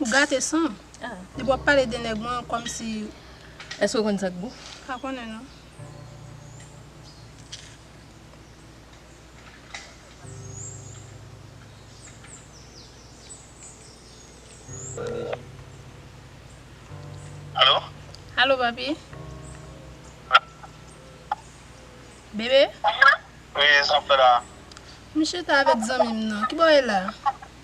Ou gate sanm. Depi wap pale de nèg mwen komsi. Eske w konn sak gou? Pa konnen non. Alo? Alo papi? Bebe? Wi, sa w fè la? M chita avèk zanmi m nan. Ki bò w ye la?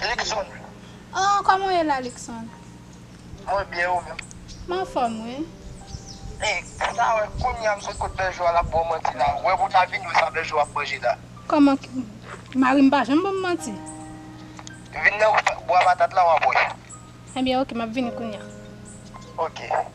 Luckson. Oh koman w ye la Luckson? Mwen byen ou menm? M anfòm wi. Hey ou ta wè kounya m sot kot Berjou a lap baw manti la ou wè pou w ta vini wè sa Berjou ap manje la. Koman mari m pa janm banm manti. Vin nan bwa patat la wap wè. Ebyen ok map vini kounya. Ok.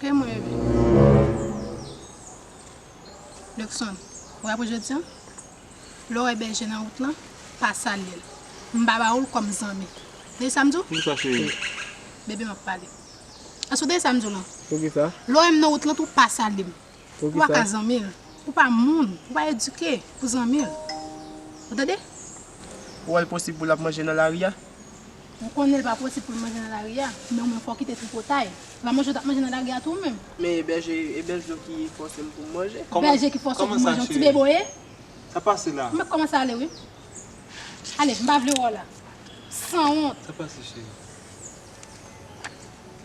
Ke mwen reve. Luckson, ou ka pou jodi an? Lè w wè bèje nan wout lan, pa salye l. M pa ba ou l kòm zanmi. Tande sa m di w? Poukisa cheri? Bebe m ap pale. Èske w tande sa m di w lan? Poukisa? Lè w wè m nan wout lan tou, pa salye m. Ou pa ka zanmi l. Ou pa moun. Ou pa edike pou zanmi l. Ou tande? Ou wè l posib pou l ap manje nan lari a? Ou konnen l pa posib pou l manje nan lari a, men ou menm fò w kite tripotay. Ou pa manje w t ap manje nan lari a tou ou menm? Men e bèje e bèl zo ki fòse m pou m manje. Bèje ki fòse w pou w manje yon ti bebe w ye? Sa pase la. Ou mèt kòmanse ale wi. Ale, m pa vle wè w la. Sanwont. Sa pase cheri?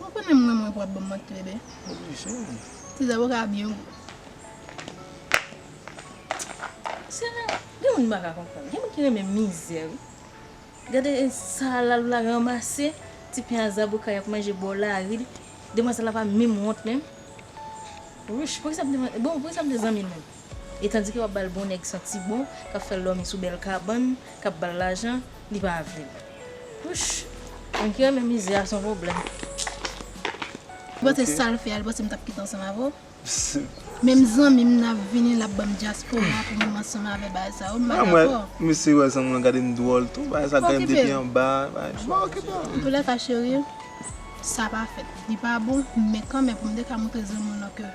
Ou konnen m renmen w pou ap banm manti bebe. Wi cheri. Ti zaboka a byen gou. Sè la gen moun m pa ka konprann. Gen moun ki renmen mizè wi. Gade sa lal la ranmase ti pen a zaboka yap manje bò lari li. Demwazèl la pa menm wont menm. Wouch poukisa m te bon poukisa m te zanmi l menm. E tandike wap bal bon nèg santi bon kap fèl dòmi sou bèl kabann kap bal lajan li pa vlel wouch moun ki renmen mizè a son problèm. Ou panse sal fè a li panse m tap kite ansanm avè w? Menm zanmi m nan vini lap banm dyaspora pou m ansanm avè bagay sa yo m pa dakò. Mesye wè zanmi w lan gade m dwòl tou bagay sa gade m depi anba. Antoulèka cheri sa pa fèt li pa bon men kanmen pou m te ka moutre zanmi w lan ke.